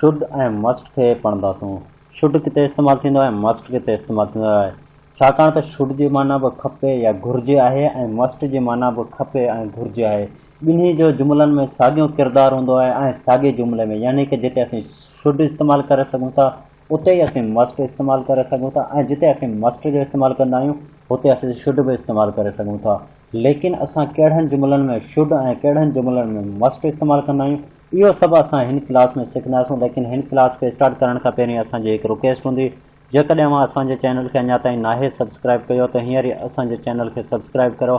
Should ۽ must کي پڙهنداسون. Should ڪٿي استعمال ٿيندو آهي ۽ مسٽ ڪٿي استعمال ٿيندو آهي؟ ڇاڪاڻ ته شڊ جي معنيٰ به کپي يا گهرجي آهي ۽ مسٽ جي معنيٰ به کپي ۽ گهرجي آهي. ٻنهي جو جملن ۾ ساڳيو ڪردار هوندو آهي ۽ ساڳئي جملي ۾ يعني ڪه جتي اسين شڊ استعمال ڪري سگهون ٿا اتي ئي اسين مسٽ استعمال ڪري سگهون ٿا ۽ جتي اسين مسٽ جو استعمال ڪندا آهيون اتي اسين شڊ به استعمال ڪري سگهون ٿا ليڪن اسان ڪهڙن جملن ۾ شڊ ۽ ڪهڙن جملن ۾ مسٽ استعمال ڪندا آهيون اهو سڀ اسان هن ڪلاس ۾ سکنداسون ليڪن هن ڪلاس کي اسٽارٽ ڪرڻ کان پهرين اسان جي هڪ رڪيسٽ هوندي جيڪڏهن اوهان اسان جي چينل کي اڃا تائين ناهي سبسڪرائب ڪيو ته هينئر ئي اسان جي چينل کي سبسڪرائب ڪرو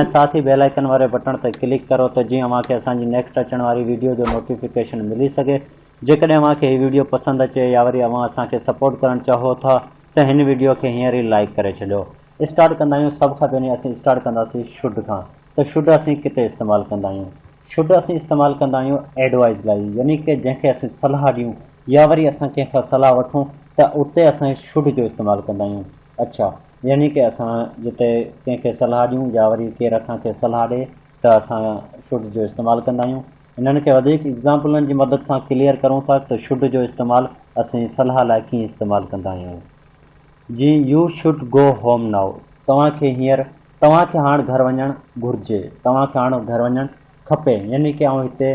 ۽ ساٿ ئي بيل آئيڪن واري بٽڻ تي ڪلڪ ڪرو ته جيئن اوهان کي اسان جي نيڪسٽ اچڻ واري ويڊيو جو نوٽيفڪيشن ملي سگهي جيڪڏهن اوهان کي هي ويڊيو پسند اچي يا وري اوهان اسان کي سپورٽ ڪرڻ چاهو ٿا ته هن ويڊيو کي هينئر ئي لائيڪ ڪري ڇڏيو اسٽارٽ ڪندا آهيون سڀ کان پهرين اسين اسٽارٽ ڪنداسين شڊ کان ته شڊ اسين ڪتي استعمال ڪندا آهيون. شڊ اسين استعمال ڪندا آهيون ايڊوائيز لاء يعني ڪه جنهن کي اسين صلاح ڏيون يا وري اسان ڪنهن کان صلاح وٺون ته اتي اسان شڊ جو استعمال ڪندا آهيون اڇا يعني ڪه اسان جتي ڪنهن کي صلاح ڏيون يا وري ڪير اسان کي صلاح ڏي ته اسان شڊ جو استعمال ڪندا آهيون انهن کي وڌيڪ ايگزامپلن جي مدد سان ڪليئر ڪرون ٿا ته شڊ جو استعمال اسين صلاح لاء ڪيئن استعمال ڪندا آهيون جيئن you should go home now توهان کي هينئر توهان کي هاڻ گهر وڃڻ گهرجي، توهان کي هاڻ گهر وڃڻ کپي، يعني ڪي آئون هتي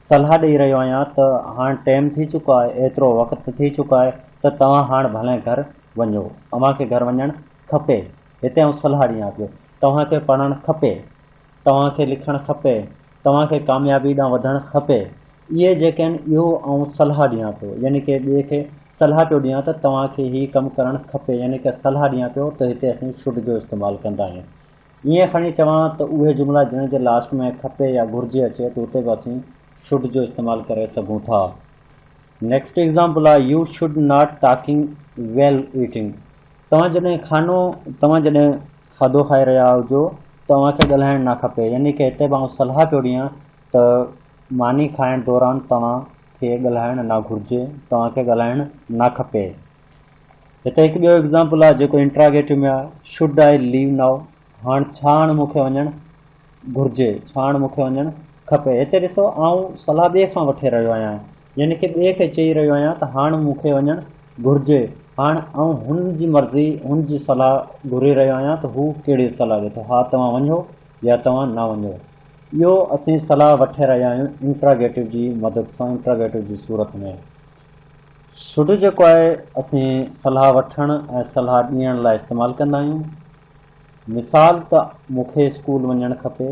صلاح ڏئي رهيو آهيان ته هاڻ ٽيم ٿي چڪو آهي، ايترو وقت ٿي چڪو آهي ته توهان هاڻ ڀلائين گهر وڃو، اوهان کي گهر وڃڻ کپي، هتي آئون صلاح ڏيان پيو، توهان کي پڙهڻ کپي، توهان کي لکڻ کپي، توهان کي ڪاميابي ڏانهن وڌڻس کپي اهي جيڪي آهن اهو آئون صلاح ڏيان ٿو يعني ڪنهن ٻئي کي صلاح پيو ڏيان ته توهان کي هي ڪم ڪرڻ کپي يعني ڪا صلاح ڏيان پيو ته هتي اسين شڊ جو استعمال ڪندا آهيون ائين کڻي چوان ته اهي جملا جنهن جي لاسٽ ۾ کپي يا گهرجي اچي ته اتي به اسين شڊ جو استعمال ڪري سگهون ٿا نيڪسٽ ايگزامپل آهي you should not talking while eating توهان جڏهن کانو توهان جڏهن کاڌو کائي رهيا هجو ته اوهان کي ڳالهائڻ نه کپي يعني ڪه هتي به آئون صلاح پيو ڏيان ته ماني کائڻ دوران توهان کي ڳالهائڻ نه گهرجي توهان کي ڳالهائڻ نه کپي هتي هڪ ٻيو ايگزامپل آهي جيڪو انٽراگيٽو ۾ آهي شوڊ آئي ليو ناو هاڻ ڇا هاڻ مون کي وڃڻ گهرجي ڇا هاڻ مون کي وڃڻ کپي هتي ڏسو آئون صلاح ٻئي کان وٺي رهيو آهيان يعني ڪنهن ٻئي کي چئي رهيو آهيان ته هاڻ مون کي وڃڻ گهرجي. هاڻ آئون هن جي مرضي، هن جي صلاح گهري رهيو آهيان ته هو ڪهڙي صلاح ڏئي ٿو. ها توهان وڃو يا توهان نه وڃو. اهو اسين صلاح وٺي رهيا آهيون انٽراگيٽو جي مدد سان، انٽراگيٽو جي صورت ۾. شڊ جيڪو آهي اسين صلاح وٺڻ ۽ صلاح ڏيڻ لاء استعمال ڪندا آهيون. مثال ته مون کي اسڪول وڃڻ کپي.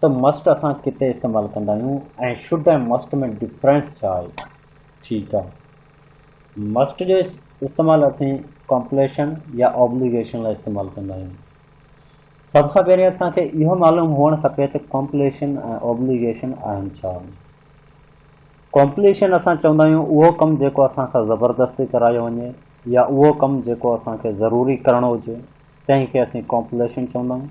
ته مسٽ اسان ڪتي استعمال ڪندا آهيون ۽ شوڊ ۽ مسٽ ۾ ڊفرنس ڇا آهي؟ ٺيڪ آهي مسٽ جو استعمال اسين ڪمپليشن يا آبليگيشن لاء استعمال ڪندا آهيون. سڀ کان پهرين اسان کي اهو معلوم هئڻ کپي ته ڪمپليشن ۽ آبليگيشن آهن ڇا؟ ڪمپليشن اسان چوندا آهيون اهو ڪم جيڪو اسان کان زبردستي ڪرايو وڃي يا اهو ڪم جيڪو اسان کي ضروري ڪرڻو هجي تنهن کي اسين ڪمپليشن چوندا آهيون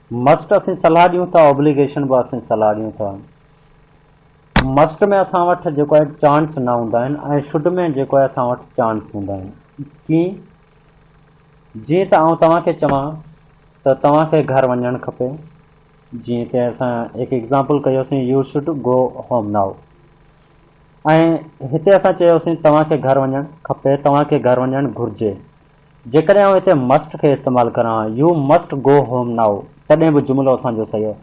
مسٽ اسين صلاح ڏيون ٿا اوبليگيشن به اسين صلاح ڏيون ٿا مسٽ ۾ اسان وٽ جيڪو آهي چانس نه هوندا آهن ۽ شڊ ۾ جيڪو آهي اسان وٽ چانس هوندا آهن ڪيئن جيئن ته آئون توهان کي چوان ته توهان کي گهر وڃڻ کپي جيئن ته اسان هڪ ايگزامپل ڪيوسين you should go home now ۽ هتي اسان چيوسين توهان کي گهر وڃڻ کپي توهان کي گهر وڃڻ گهرجي جيڪڏهن آئون هتي مسٽ کي استعمال ڪران، you must go home now, تڏهن به جملو اسان جو صحيح آهي.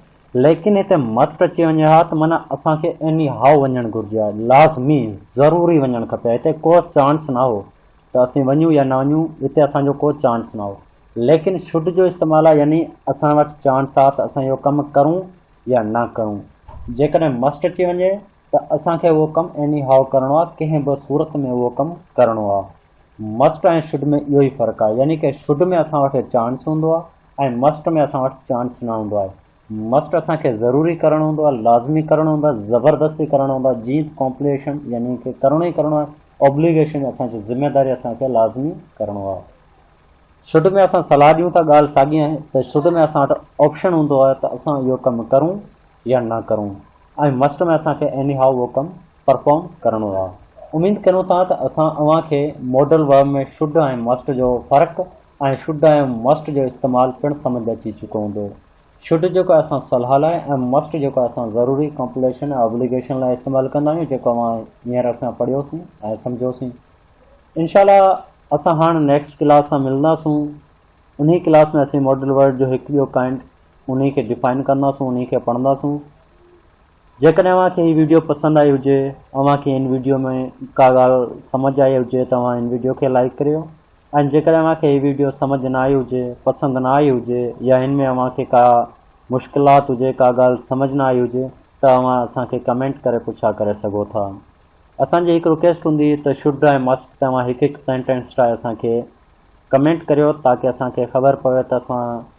ليڪن هتي مسٽ اچي وڃي ها ته معنيٰ اسان کي ايني هائو وڃڻ گهرجي ها، لازمي، ضروري وڃڻ کپي ها. هتي ڪو چانس نه هو ته اسين وڃون يا نه وڃون، هتي اسان جو ڪو چانس نه هو. ليڪن شوڊ جو استعمال آهي يعني اسان وٽ چانس آهي ته اسان اهو ڪم ڪرون يا نه ڪرون. جيڪڏهن مسٽ اچي وڃي ته اسان کي اهو ڪم ايني هائو ڪرڻو آهي، ڪنهن به صورت ۾ اهو ڪم ڪرڻو آهي. مسٽ ۽ شڊ ۾ اهو ئي فرق آهي يعني ڪه شڊ ۾ اسان وٽ چانس هوندو آهي ۽ مسٽ ۾ اسان وٽ چانس نه هوندو آهي مسٽ اسان کي ضروري ڪرڻ هوندو آهي لازمي ڪرڻ هوندو آهي زبردستي ڪرڻ هوندو آهي جيئن ڪمپليشن يعني ڪه ڪرڻو ئي ڪرڻو آهي اوبليگيشن اسان جي ذميداري اسان کي لازمي ڪرڻو آهي شڊ ۾ اسان صلاح ڏيون ٿا ڳالهه ساڳي آهي ته شڊ ۾ اسان وٽ آپشن هوندو آهي ته اسان اهو ڪم ڪرون يا نه ڪرون ۽ مسٽ ۾ اسان کي ايني هاء اهو ڪم پرفارم ڪرڻو آ اميد ڪريون ٿا ته اسان اوهان کي ماڊل ورب ۾ شڊ ۽ مسٽ جو فرق ۽ شڊ ۽ مسٽ جو استعمال پڻ سمجهه اچي چڪو هوندو شڊ جيڪو اسان صلاح لاء ۽ مسٽ جيڪو اسان ضروري ڪمپليشن ۽ ابليگيشن لاء استعمال ڪندا آهيون جيڪو اوهان هينئر اسان پڙهيوسين ۽ سمجهيوسين انشاء الله اسان هاڻ نيڪسٽ ڪلاس سان ملنداسون انهي ڪلاس ۾ اسين ماڊل ورب جو هڪ ٻيو ڪائنڊ انهي کي ڊيفائن ڪنداسون انهي کي پڙهنداسون جيڪڏهن اوهان کي هي ويڊيو پسند آئي هجي اوهان کي هن ويڊيو ۾ ڪا ڳالهه سمجهه آئي هجي ته اوهان هن ويڊيو کي لائيڪ ڪريو ۽ جيڪڏهن اوهان کي هي ويڊيو سمجهه نه آئي هجي پسند نه آئي هجي يا هن ۾ اوهان کي ڪا مشڪلات هجي ڪا ڳالهه سمجهه نه آئي هجي ته اوهان اسان کي ڪمينٽ ڪري پڇا ڪري سگهو ٿا اسان جي هڪ رڪيسٽ هوندي ته شڊ ۽ مسٽ تي اوهان هڪ هڪ سينٽينس ٺاهي اسان کي ڪمينٽ ڪريو تاڪي اسان کي خبر پوي ته اسان